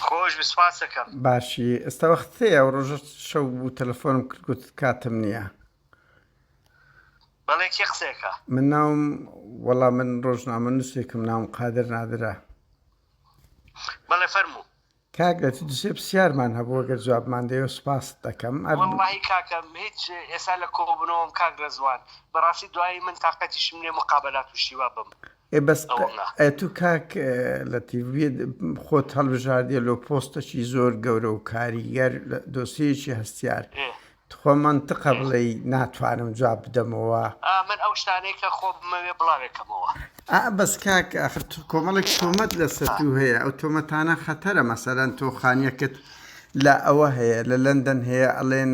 خۆش بی سپاس دەکەم. باشی ئێستا وەخت هەیە ئەو ڕۆژە شەو بوو تەلەفۆنم کرد گوت کاتم نییە بەڵێ کێ قسەکە من ناوم وەڵا من ڕۆژنامە نووسێکم ناوم قادر نادرا بەڵێ فەرموو کاگەت دوسێ پرسیارمان هەبوو گەر جوابمان دەیە سپاس دەکەم ئەر واللهی کاکەم هیچ ئێستا لە کۆبوونەوەم کاک ڕێزوان بەڕاستی دوایی من تاقەتیشم لێ مقابلات و شیوا بم ئێ بەس ئەی تو کاک لەتیڤ خۆت هەڵبژاردیە لۆ پۆستەکی زۆر گەورە و کاریگەر دۆسیەکی هەستیار تخوا مەنتقە بڵێی ناتوانم جواب بدەمەوە من ئەو شتانەی کە خۆ بمەوێ بڵاوێکەمەوە ئا بەس کاک ئاخر تو کۆمەڵێک تۆمەت لەسەر تو هەیە ئەو تۆمەتانە خەتەرە مەسەلەن تۆ خانیەکت لە ئەوە هەیە لە لەندەن هەیە ئەڵێن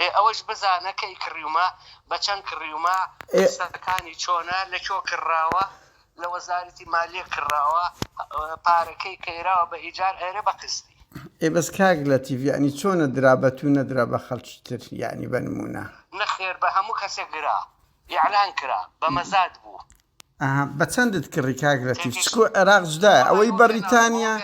ئێ ئەوەش بزانە کەی کڕیومە بە چەند کڕیومە قسەکانی چۆنە لە کۆ کڕراوە لە وەزارەتی مالیە کڕراوە پارەکەی کەیراوە بە ئیجار ئەرێ بە قستی ئێ بەس کاک لە تیڤیانی چۆنە درا بە تو نەدرا بە خەڵکی تر یعنی بە نمونە نەخێر بە هەموو کەسێک گرا ئیعلان کرا بە مەزاد بوو. ئەها بە چەندت کڕی کاک لەتیف چکو عێراق جدایە ئەوەی بەڕیتانیا.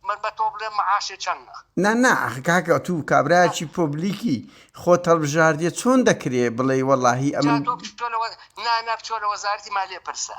من بە تۆ بلێم معاشێ چەنە. نا نا ئەخ کاکە تو کابرایەکی پۆبلیکی خۆت هەڵبژاردیە چۆن دەکرێ بڵێی وەڵاهی ئەمن. نا نا بچۆ لە وەزارەتی مالیە پرسە.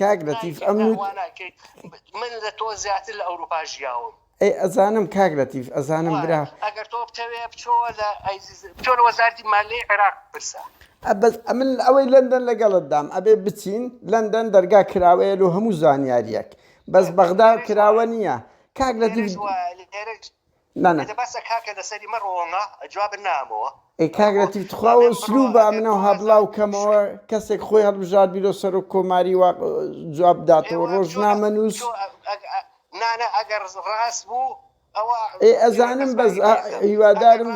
کاک لەتیف ئەم نوت من لە تۆ زیاتر لە ئەوروپا ژیاوم ئەی ئەزانم کاک لەتیف ئەزانم برا ئەگەر تۆ بتەوێ بچۆوە لە بچۆ لە وەزارتی مالی عێراق پرسە ئەبەس ئەمن ئەوەی لەندەن لەگەڵت دام ئەبێ بچین لەندەن دەرگا کراوەیە لۆ هەموو زانیاریەک بەس بەغدا کراوە نییە کاک لەتیف نا نا. بەسە کاکە لەسەری مەڕۆوەمە جوابت نامەوە. ئەی کاک لەتیف تخوا ئەو ئسلوبە ئەمن ئەوها بلاو کەمەوە کەسێک خۆی هەڵبژاردبیرۆ سەرۆک کۆماری وا جواب بداتەوە ڕۆژنامە نوس نا نا ئەگەر ڕاست بوو ئەوە ئێ ئەزانم بەس هیوادارم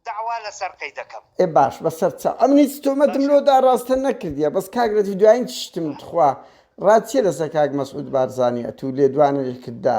داوا لەسەر قەی دەکەم ئێ باش بەسەر چاو ئەمن هیچ تۆمەتم لۆدا ڕاستە نەکردیە بەس کاک لەتیف دوایین چشتم تخوا ڕات چیە لەسەر کاک مەسعود بارزانی ئەتوو لێدوانێکت دا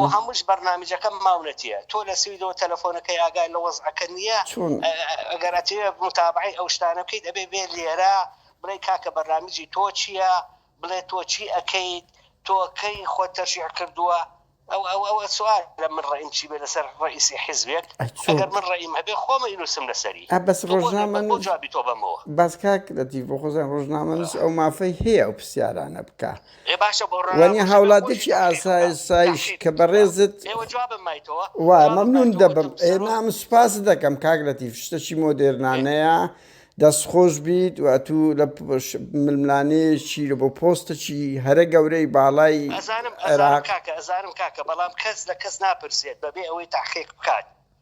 و هەمووش بەرنامیجەکە ماونەتیە تۆ لە سویدەوە تەلەفۆنەکەی ئاگای لە وەزعەکە نیە چۆن ئەگەر ئەتەوێ موتابەعەی ئەو شتانە بکەیت ئەبێ بێ لێرە بڵێی کاکە بەرنامیجی تۆ چیە بڵێ تۆ چی ئەکەیت تۆ کەی خۆت تەرشیح کردووە ئەو ئەو ئەو سوال لە من ڕەئیم چی بێ لەسەر ڕەئیسی حیزبێک ئەی چۆن ئەگەر من ڕەئیم هەبێ خۆم ئەینوسم لەسەری ئا بەس تۆ بۆ ڕۆژنامە بۆ نووس جوابی تۆ بەمەوە بەس کاک لەتیف بۆ خۆزان ڕۆژنامە نووس ئەو مافەی هەیە ئەو پرسیارانە بکا وەنی هاوڵاتێکی ئاسایش کە بەڕێزت وا مەمنون دەبم نام سوپاست دەکەم کاک لەتیف شتەکی مۆدێرنانەیە دەست خۆش بیت و ئەتوو لە ململانەیەکی لە بۆ پۆستەکی هەرە گەورەی باڵای ئەزانم ئەزانم کاکە ئەزانم کاکە بەڵام کەس لە کەس ناپرسێت بەبێ ئەوەی تاقیق بکات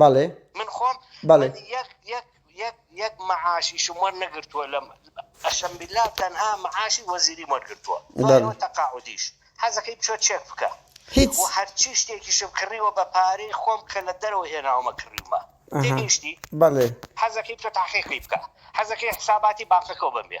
بەڵێ من خۆم بەڵێ من یەک یەک یەک یەک مەعاشیشم وەرنەگرتووە لە قەسەم باللە تەنها مەعاشی وەزیریم وەرگرتووە دوای ئەوە تەقاعودیش حەزەکەی بچۆ چێک بکە هیچ و هەرچی شتێکیشم کڕیوە بە پارەی خۆم کە لە دەرەوە هێناومە کڕیومە تێگەیشتی بەڵێ حەزەکەی بچۆ تەحقیقی بکە حەزەکەی حساباتی بانقەکەو بەم بێ.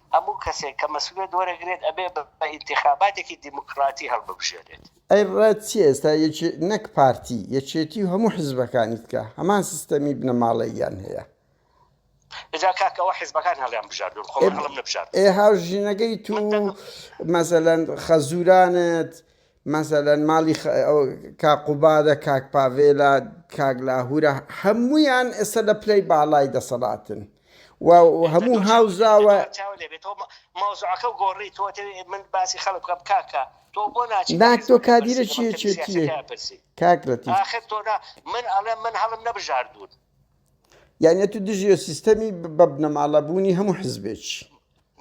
هەموو کەسێک کە مەسولیەت وەرەگرێت ئەبێ بە ئینتیخاباتێکی دیموکراتی هەڵببژێرێت. ئەی ڕەت چیە ئێستا یەکێ نەک پارتی یەکێتی و هەموو حزبەکانی تکە هەمان سیستەمی بنەماڵەییان هەیە. ئجا کاکە ئەوە حزبەکان هەڵیان بژاردوون خۆ من هەڵم نەبژاردووە. ئێ هاوژینەکەی تو مەسەلەن خەزورانت مەسەلەن ماڵی کاک قوبادە، کاک پاڤێلە، کاک لاهورە هەموویان ئێستا لە پلەی باڵای دەسەڵاتن و هەموو هاوزاوە تۆ کادیرە چێتیە کاک من ئەڵێ من هەڵم نەبژاردون یانە تو دژێ سیستەمی بە بنەماڵە بوونی هەموو حزبێک.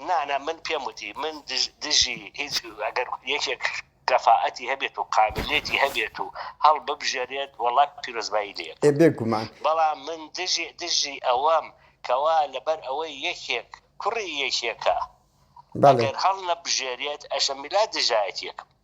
نا نا من پێم وتی من دژی هیچ ئەگەر یەکێک کەفائەتی هەبێت و قابلیەتی هەبێت و هەڵببژێرێت وەڵا پیرۆزبایی لێ ئەکەم ئێ بێگومان. بەڵام من دژی دژی ئەوەم کەوا لەبەر ئەوەی یەکێک کوڕی یەکێکە بەڵێ. ئەگەر هەڵنەبژێرێت ئەشم بلا دژایەتیەکم.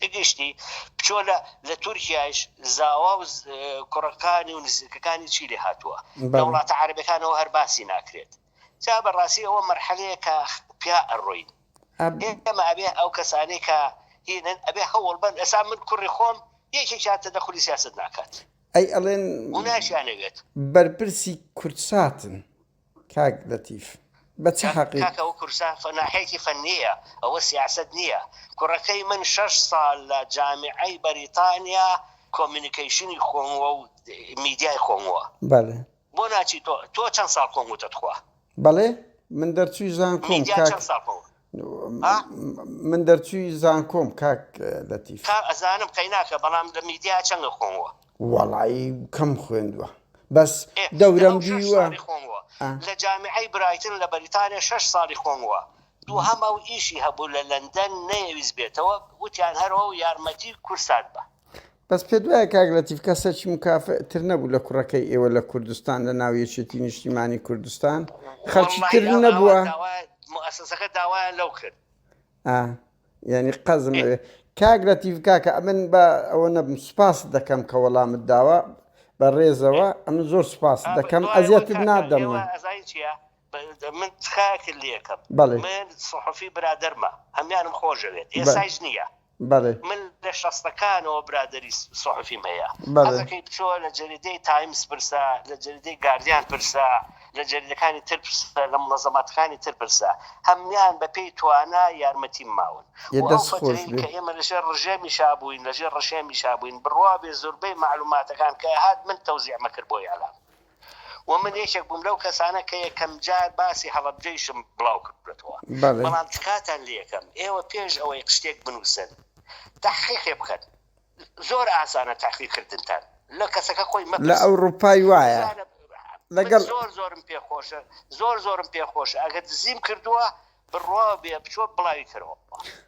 بگشتی بچۆ لە لە تورکیاش زاوا و کوڕەکانی و نزیکەکانی چی لێ هاتووە لە وڵاتە عربەکانەوە هەر باسی ناکرێت جا بەڕاستی ئەوە مەرحەلەیە کە پیا ئەڕۆین ئێمە ئەبێ ئەو کەسانی کە هینن ئەبێ هەوڵ بن ئەسا من کوڕی خۆم یەکێکیان تە دەخلی سیاست ناکات ئەی ئەڵێن ناشیانەوێت بەرپرسی کوردساتن کاک لەتیف بە چ حەقیک. کاکە ئەوە کوردستان فەناحێکی فەنییە ئەوە سیاسەت نییە کوڕەکەی من شەش ساڵ لە جامیعەی بەریتانیا کۆمیونیکەیشنی خووەوە و میدیای خووەوە بەلێ. بۆ ناچی تۆ تۆ چەند ساڵ خووەوتە تخوا. بەڵێ من دەرچووی زانکۆم کاک من دەرچوی زانکۆم کاک لەتیف. کاک ئەزانم قەیناکە بەڵام لە میدیا چەنگە خۆمەوە. وەڵایی کەم خوێندوە بەس دەورەم دیوە. لە جامیعەی برایتن لە بەریتانیا شەش ساڵی خۆموە دوهەم ئەو ئیشی هەبوو لە لەندەن نەیەویست بێتەوە وتیان هەرەوە و یارمەتی کورسات بە. بەس پێت وایە کاک لەتیف کەسەکی مکافئ تر نەبوو لە کوڕەکەی ئێوە لە کوردستان لە ناو یەکێتی نیشتیمانی کوردستان خەلکی تر نەبووە؟ موئەسەسەکە داوایان لەو کرد. ئا یانی قەزم ئەوێ کاک لەتیف کاکە ئەمن بە ئەوە نەبم سوپاست دەکەم کە وەڵامت داوە بە ڕێزەوە ئەمن زۆر سوپاست دەکەم ئەزیەتت نادەم من. ئەزانی چیە بە- من تخاکر لێکم بەڵێ. من سەحوفی برادەرمە هەمیانم خۆشەوێت ئێسایش نییە بەڵێ. من لە شەستەکانەوە برادەری سوحفیم هەیە بەڵێ. حەزەکەی بچۆ لە جەریدەی تایمز پرسە لە جەریدەی گاردیان پرسە لە جەریدەکانی تر پرسە لە مونەزەماتەکانی تر پرسە هەموان بە پێی توانا یارمەتیم ماون یە بۆ ئەو دەست خۆش فترەی بێ. کە ئێمە لە ژێر ڕژێمی شا بوین لە ژێر ڕژێمی شا بوین بڕوابێ زوربەی مەعلوماتەکان کە ئەهات من تەوزیعمەکرد بۆ ئیعلام. و من یەکێک بووم لەو کەسانە کە یەکەم جار باسی هەڵەبجەیشم بڵاو کردووەتەوە، بەڵام تکاتان لێ ئەکەم ئێوە پێش ئەوەی شتێک بنووسن تەحقیقێ بکەن، زۆر ئاسانە تەحقیق کردنتان لە کەسەکە خۆی مەپرسن. لە ئەوڕوپای وایە لەگەڵ. من زۆر زۆرم پێ خۆشە، زۆر زۆرم پێ خۆشە ئەگەر دزیم کردووە بڕوا بێ بچۆ بڵاوی کەرەوە.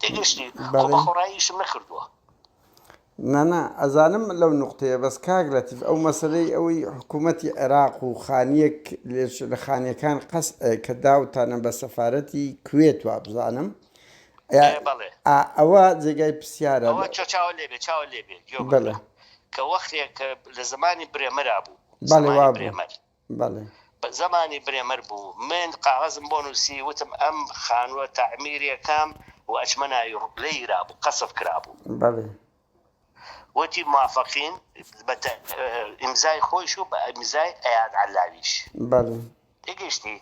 تێگەشتی خۆ بە خۆڕایی ئیشم نەکردووە. نا نا ئەزانم لەو نوقتەیە بەس کاک لەتیف ئەو مەسەلەی ئەوەی حکوومەتی عێراق و خانیەک لێش لە خانیەکان قەس کە داوتانە بە سەفارەتی کوێت وابزانم ئەوە جێگای پرسیارە چاوە لێبێ چاوە لێبێ کە وەختێک لە زمانی برێمەرا بوو بەڵێ وابێ بەڵێ. زمانی برێمەر بوو. من قاغەزم بۆ نووسی، وتم ئەم خانووە تەعمیری ئەکەم و ئەچمە ناوی ڕوو. لێیرابوو، قەسف کرابوو. بەڵێ. وتی موافقین، بە ئیمزای خۆیش و بە ئیمزای ئەیاد عەللاویش. بەڵێ. تێگەیشتی؟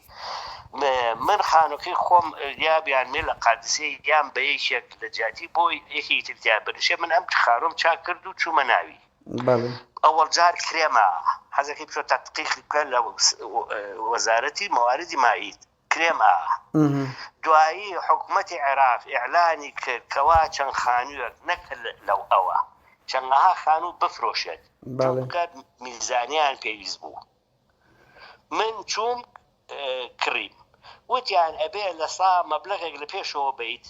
من خانووەکەی خۆم یا بیانمێ لە قادسیە یان بە یەکێک لە جیاتی بۆ یەکێکی تر تیا بنشێ، من ئەم خانووەم چاک کرد و چوومە ناوی. بەڵێ. ئەوەڵ جار کرێمە حەزەکەی بچۆ تەتقیق بکە لە وەزارەتی مەواردی مائید کرێم ئا دوایی حکومەتی عێراق ئیعلانی کرد کەوا چەند خانوویەک نەک لەو ئەوە چەندەها خانوو بفرۆشێت بەڵێ. چونکە میزانیان پێویست بوو. من چووم کڕیم وتیان ئەبێ لە سا مەبلەغێک لە پێشەوە بەیت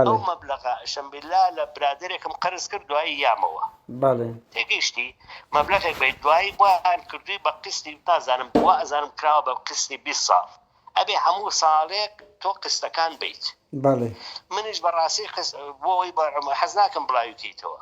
ئەو مەبلەغە ئەشم بیللا لە برادەرێکم قەرز کرد دوایی یامەوە تێگەیشتی مەبلەغێک بەیت دوایی بۆیان کردووی بە قستی نازانم بۆ ئەزانم کراوە بە قستی بیست ساڵ ئەبێ هەموو ساڵێک تۆ قستەکان بەیت منیش بەڕاستی بۆ ئەوەی حەز ناکەم بڵاوی کەیتەوە.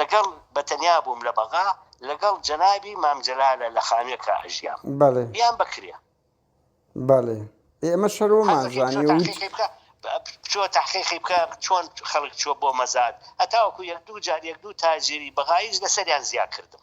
لەگەڵ بەتەنیا بووم لە بەغا لەگەڵ جەنابی مام جەلالە لە خانوێکا ئەژیام بەڵێ بیان بەکرێ بەڵێ ئێمە شەرۆمان زانی بچۆ تحقیقی بکە چۆن خەڵک چوە بۆ مەزاد هەتاوەکو یەک دوو جار یەک دوو تاجری بەغایش لەسەریان زیا کردم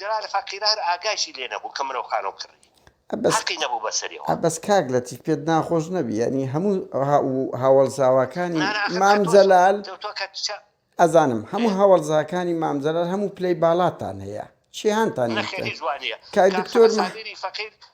جەلال فەقیرە هەر ئاگایشی لێ نەبوو کە مرۆ خان و کڕی. حەقی نەبوو بە سەریەوە. ئە بەس کاک لەتیف پێت ناخۆش نەبی یانی هەموو هاوەڵزاواکانی مام جەلال ئەزانم هەموو هاوەڵزاکانی مام جەلال هەموو پلەی باڵاتان هەیە چیهانتان نەخێر هیچ وانیە کاک دکتۆر سابیری فەقیر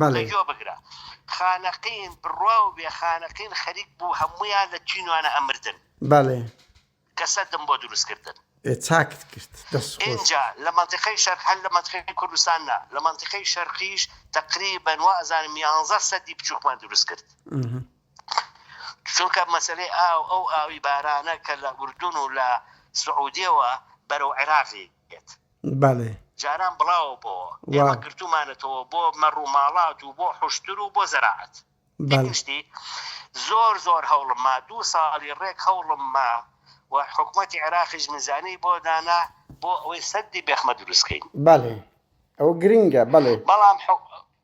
بەڵێ. گوێ بگرە خانەقین بڕواو بێ خانەقین خەریک بوو هەموویان لە چینوانە ئەمردن. بەڵێ. کە سەدم بۆ دروست کردن. ئێ چاکت کرد دەست خۆش. ئینجا لە مەنتیقەی شەرق هەر لە مەنتیقەی کوردستان نا لە مەنتیقەی شەرقیش تەقریبەن وا ئەزانم یانزە سەدی بچووکمان دروست کرد چونکە مەسەلەی ئاو ئەو ئاوی بارانە کە لە ئوردون و لە سعودیەوە بەرەو عێراقی یەت بەڵێ. جاران بڵاوە بۆوە. وا. ئێمە گرتوومانەتەوە بۆ مەڕ و ماڵات و بۆ حوشتر و بۆ زەراعەت. بەڵێ. یەکم شتی زۆر زۆر هەوڵم ما، دوو ساڵی ڕێک هەوڵم ما و حکومەتی عێراقیش مزانی بۆ دانا بۆ ئەوەی سەدی بێخمە دروست کەین. بەڵێ. ئەوە گرینگە. بەڵێ. بەڵام حک.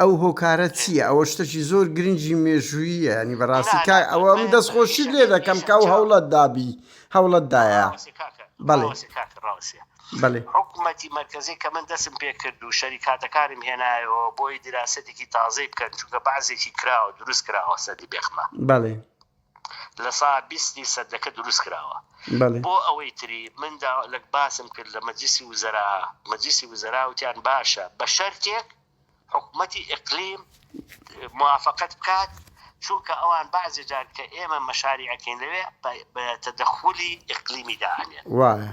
ئەو هۆکارە چییە ئەوە شتەکی زۆر گرنگی مێژوویە ینی بەڕاستی کار ئەوە من دەست خۆشی لێ دەکەم کە ئەو هەوڵەت دابی هەوڵەت دایە بەڵێ بەێ حکوومەتی مرکزی کە من دەسم پێ کرد و شەریکاتەکانم هێنایەوە بۆی دراستێکی تازەی بکەن چونکە بەعزێکی کراوە دروست کراوە سەدی بێخمە بەڵێ لە سا بیستی سەدەکە دروست کراوە بۆ ئەوەی تری من دا لەک باسم کرد لە مەجلیسی وزەرا مەجلیسی وزەرا وتیان باشە بە شەرتێک حکومەتی ئقلیم موافقەت بکات چونکە ئەوان بەعزێ جار کە ئێمە مەشاری ئەکەین لەوێ بە تەدەخولی ئقلیمی دا ئەنێن وایە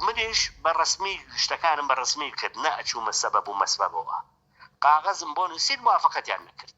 منیش بە ڕسمی شتەکانم بە ڕسمی کرد نە ئەچوومە سەبەب و مەسبەبەوە قاغەزم بۆ نووسین موافقەتیان نەکرد.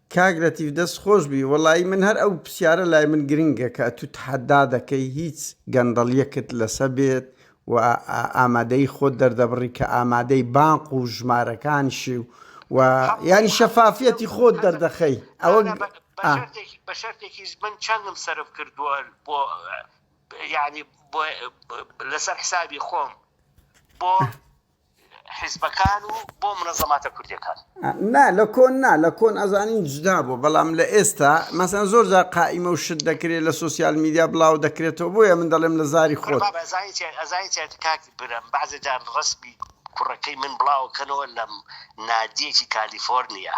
کاک لەتیف دەست خۆش بی وەڵایی من هەر ئەو پسیارە لای من گرنگە کە ئەتو تەحەدا دەکەی هیچ گەندەڵیەکت لەسە بێت و ئامادەیی خۆت دەردەبڕی کە ئامادەی بانق و ژمارەکانشی و یانی شەفافیەتی خۆت دەردەخەی ئەوە بە شەرتێکیش من چەندم سەرف کردووە بۆ یانی لەسەر حسابی خۆم بۆ حیزبەکان و بۆ منەزەماتە کوردیەکان. نا لە کۆن نا لە کۆن ئەزانین جدا بوە بەڵام لە ئێستا مەسەن زۆر جار قائیمە و شت دەکرێ لە سۆسیال میدیا بڵاو دەکرێتەوە بۆیە من دەڵێم لە زاری خۆت. بابە ئەزانی چیە ئەزانی چیە کاک برم بەعزێ جار ڕەسمی کوڕەکەی من بڵاوە کەنەوە لەم نادیەکی کالیفۆرنیا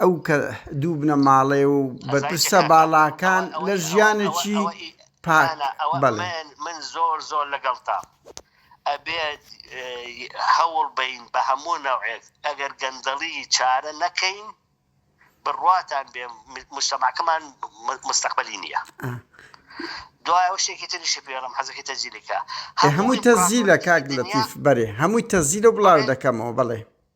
ئەو کە دوو بنەماڵەیە و بەرپرسە باڵاکان لە ژیانێکی پاک بەڵێ. من زۆر زۆر لەگەڵتام ئەبێت هەوڵ بەین بە هەموو نەوعێک ئەگەر گەندەڵی چارە نەکەین بڕواتان بێ موجتەماکەمان مستەقبەلی نیە دوای ئەو شتێکی تریشی پێڵم حەزەکەی تەزیلەکە هەمووی تەزیلە کاک لەتیف بەرێ هەمووی تەزیلە بڵاو دەکەمەوە بەڵێ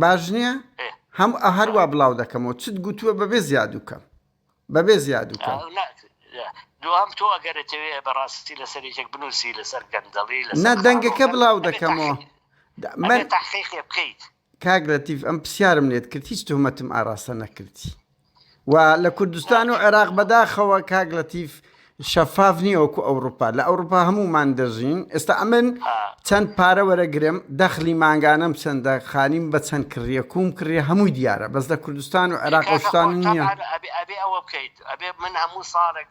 باش نیە هەم هەروە بڵاو دەکەمەوە چت گوتووە بەبێ زیادوکەم بەبێ زیادوکەم دوام تۆ ئەگەرەتەوێ بەڕاستی لەسەر یەک بنووسی لەسەر گەندەڵی لە دەنگەکە بڵاو دەکەمەوە من تحقیق بکەیت کاگرەتیف ئەم پرسیارم لێت کرد هیچ تۆمەتم ئاراستە نەکردی و لە کوردستان و عێراق بەداخەوە کاک لەتیف شەفاف نییە وەکو ئەوروپا لە ئەوروپا هەمومان دەژین ئێستا ئەمن چەند پارە وەرەگرم دەخلی مانگانەم چەندە خانیم بە چەند کڕیە کوم کڕیە هەمووی دیارە بەس لە کوردستان و عێراق شتان نییە ئەبێ ئەوە بکەیت ئەبێ من هەموو ساڵێک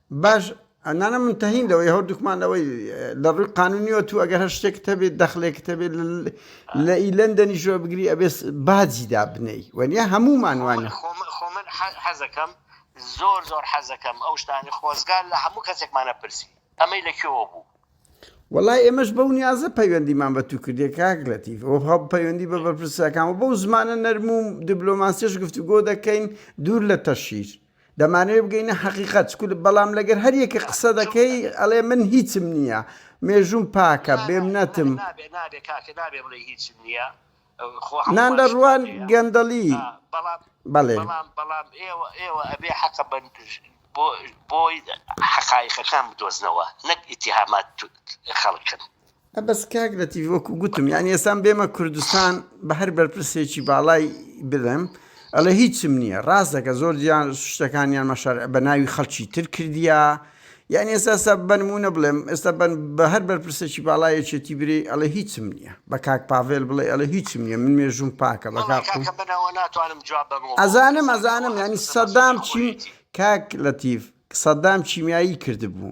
باش نانا من تەهین لەوەی هەردووکمان لەوەی لە ڕووی قانونیوە تو ئەگەر هەر شتێکت هەبێت دەخلێکت هەبێت لە ئی لەندەنی ژۆ بگری ئەبێت باجی دابنەی وەنیە هەمومان وانە خۆمن حەزەکەم زۆر زۆر حەزەکەم ئەو شتانی خۆزگار لە هەموو کەسێکمانە پرسی ئەمەی لە کوێوە بوو وڵای ئێمەش بەو نیازە پەیوەندیمان بە تو کردێ کاک لەتیف ئەو هەب پەیوەندی بە بەرپرسەکان و بەو زمانە نەرموم دیبلۆماسیش گفتوگۆ دەکەین دوور لە تەشیر دەمانەوێ بگەینە حەقیقەت چکول بەڵام لەگەر هەر یەکە قسە دەکەی ئەڵێ من هیچم نییە مێژووم پاکە بێمنەتم نان لە ڕوان گەندەڵی بەڵێ بۆی حەقایقەکان بدۆزنەوە نەک ئیتیهامات خەڵکن. ئە بەس کاک لەتیف وەکو گوتم یانی ئێسان بێمە کوردستان بە هەر بەرپرسێکی باڵای بڵێم ئەڵێ هیچم نییە ڕاستەکە زۆر جیان شتەکانیان مەشار بە ناوی خەڵکی تر کردیا یان ئێستا بنمونە بڵێم ئێستا بن بە هەر بەرپرسێکی باڵایەکێتی بری ئەڵێ هیچم نییە بە کاک پاڤێل بڵێ ئەڵە هیچم نییە من مێژوم پاکە بە ئەزانم ئەزانم ینی سەدام چی کاک لەتیف سەدام چیمیایی کردبوو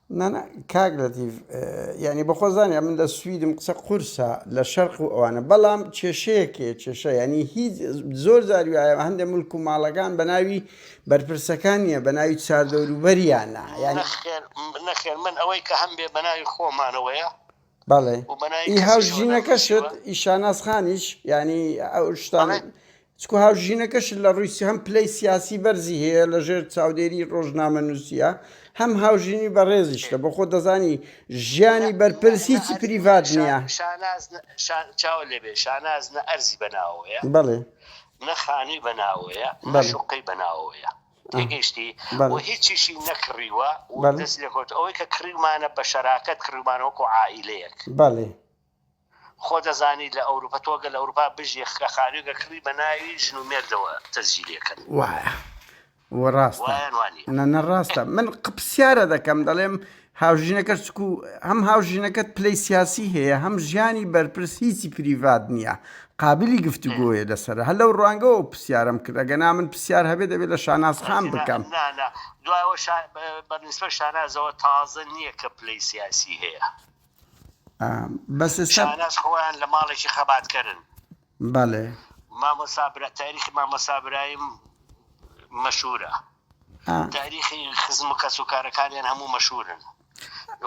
نانا کاک لەتیف یانی بەخۆ زانیە من لە سویدم قسە قورسە لە شەرق و ئەوانە بەڵام کێشەیەکێ کێشە ینی هیچ زۆر زاریواە هەندێک ملک و ماڵەکان بە ناوی بەرپرسەکان نیە بە ناوی چاردەوروبەریانە یان نەخێن من ئەوەی کە هەم بێ بە ناوی خۆمانەوەیە بەڵێ و بە ناوی ئی کەسیشەوە هاوژینەکەشت ناونووسیوە. ئی شاناز خانیش یعنی ئەو شتان بەڵێ. چکو هاوژینەکەش لە ڕووی سی- هەم پلەی سیاسی بەرزی هەیە لە ژێر چاودێری ڕۆژنامەنووسیە هەم هاوژینی بەڕێزیشتە بۆ خۆ دەزانی ژیانی نە- بەرپرس نە- نە هیچی ئەر- پریڤات شا- نییە شاناز نە- شان- چاوە لێبێ شاناز نە ئەرزی بەناوەیە بەڵێ نە خانووی بەناوەیە نە بەڵێ. شوقەی بەناوەیە تێگەیشتی و هیچیشی نەکڕیوە و دەست لێکەوتووە، ئەوەی کە کڕیومانە بە شەراکەت کڕیومانە وەکو عائیلەیەک. بەڵێ. خۆ دەزانی لە ئەوروپا تۆ گەر لە ئەوروپا بژی خە خانووێکە کڕی بە ناوی ژن و مێردەوە تەسجیلی ئەکەن. وایە. وە ڕاستە. وایە یان وا نییە؟ نە نە ڕاستە. من قپسیارە دەکەم دەڵێم هاوژینەکەش چکو هەم هاوژینەکەت پلەی سیاسی هەیە هەم ژیانی بەرپرس هیچی پریڤات نییە قابلی گفتوگۆیە لەسەر هەر لەو ڕوانگەوە پرسیارم کرد ئەگە نامن پرسیار هەبێت دەبێت لە شاناز خان بکەم دوایەوە بەنسبە شانازەوە تازە نییە کە پلەی سیاسی هەیە بەس شاناز خۆیان لە ماڵێکی خەباتکەرن بەڵێ. مامۆستا برا تاریخی مامۆستا برایم مەشهورە تاریخی خزم و کەس و کارەکانیان هەموو مەشهورن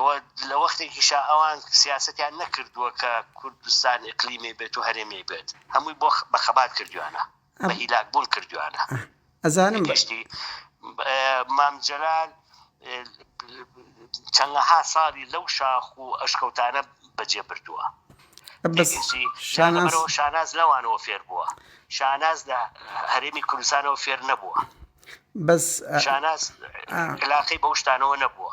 و لە وەختێکیشا ئەوان سیاسەتیان نەکردووە کە کوردستان ئیقلیمی بێت و هەرێمی بێت هەمووی بۆ بە خەبات کردویانە بە هیلاک بوون کردویانە ئەزانم. گشتی مام جەلال چەندەها ساڵی لەو شاخ و ئەشکەوتانە بەجێ بردووە. بەس شاناز. شاناز لەوانەوە فێر بووە. شاناز لە هەرێمی کوردستانەوە فێر نەبووە. بەس شاناز علاقەی بەو شتانەوە نەبووە.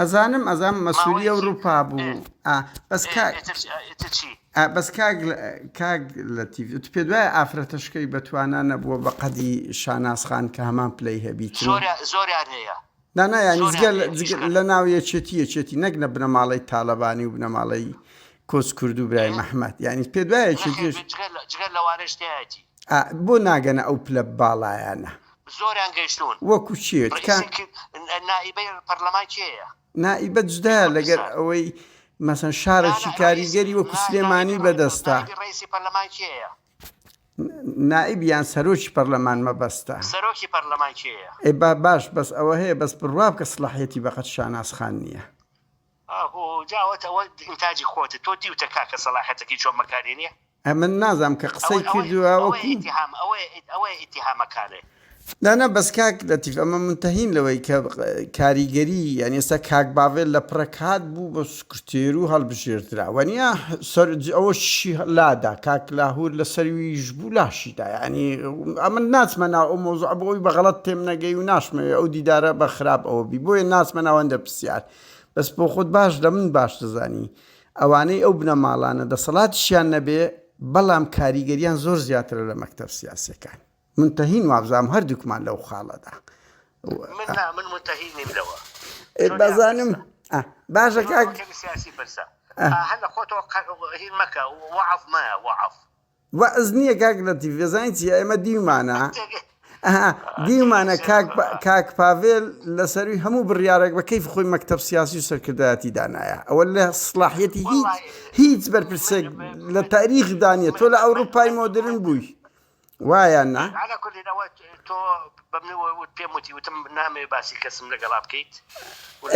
ئەزانم ئەزانم مەسولی ئەوروپا بوو ئا بەس کاک ئیتر چی؟ ئا بەس کاک کاک لەتیف ئیتر پێت وایە ئافرەتە شکەوی بە توانا نەبووە بە قەدی شاناز خان کە هەمان پلەی هەبیت زۆر زۆریان هەیە نا نا یانی جگە لە جگە لە ناو یەکێتی یەکێتی نەک لە بنەماڵەی تالەبانی و بنەماڵەی کۆچ کرد و برای مححمد یانی پێت وایە چێتیش جگە لە جگە لەوانەش تایەتی ئا بۆ ناگەنە ئەو پلە باڵایانە زۆریان گەیشتوون. وەکو کێ؟ تکا. ڕەئیسی نائیبەی پەرلەمان کێیە؟ نائیبە جدایە لەگەر ئەوەی مەسەن شارەکی کاریگەری وەکو سلێمانی بەدەستە. نائیبی ڕەئیسی پەرلەمان کێیە؟ نائیب یان سەرۆکی پەرلەمان مەبەستە. سەرۆکی پەرلەمان کێیە؟ ئێ با باش بەس ئەوە هەیە بەس بڕوابکە سڵاحیەتی بەقەد شاناز خان نیە. ئاهۆ جا ئەوەت ئەوە ئینتاجی خۆتە تۆ دیوتە کاکە سەڵاحەتەکەی چۆن بەکار هێنیە؟ ئەمن نازام کە قسەی کردوە وەکو. ئەوەیە ئیتیهامەکانێ. نا نا بەس کاک لەتیف ئەمە مونتەهین لەوەی کە کاریگەری یانی ئێستا کاک باڤێل لە پڕێک هات بوو بە سکرتێرو هەڵبژێردرا وەنیا سەر ئەوە چی لادا کاک لاهور لە سەرویش بوو لاشی دا یانی ئەمن ناچمە ناو ئەو مەوزوعە بۆ ئەوی بە غەڵەت تێم نەگەی و ناشمەوێ ئەو دیدارە بە خراپ ئەوە بی بۆیە ناچمە ناو هەندە پرسیار بەس بۆ خۆت باش لە من باش دەزانی ئەوانەی ئەو بنەماڵانە دەسەڵاتیشیان نەبێ بەڵام کاریگەریان زۆر زیاترە لە مەکتەب سیاسەکان من تەهین وابزانم هەردووکمان لەو خاڵەدا من نا من متهی نیم لەوە ئێ چۆن بازانم یاخسە؟ ئا، باشە کاک کەمی سیاسی پرسە هەر لە خۆتەوە قە- هین مەکە وعف مە وعف واز نیە کاک لەتیف بێزانی چیە ئێمە دیومانە ئەها دیومانە کاک پا- کاک پاڤێل لە سەروی هەموو بڕیارێک بە کەیف خۆی مەکتەب سیاسی و سەرکردایەتی دانایە ئەوە لە سڵاحیەتی هیچ وەڵاهی. هیچ بەرپرسێک لە تاریخ دانیە تۆ لە ئەوروپای مۆدرن بووی وایە نا على كل نوت تو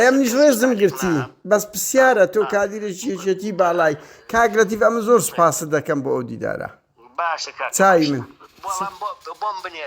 ئەمنیش ڕێزم گرتی بەس پرسیارە تۆ کادیرێکی یەکێتی باڵای کاک لەتیف ئەمن زۆر سوپاست دەکەم بۆ ئەو دیدارە چاوی من.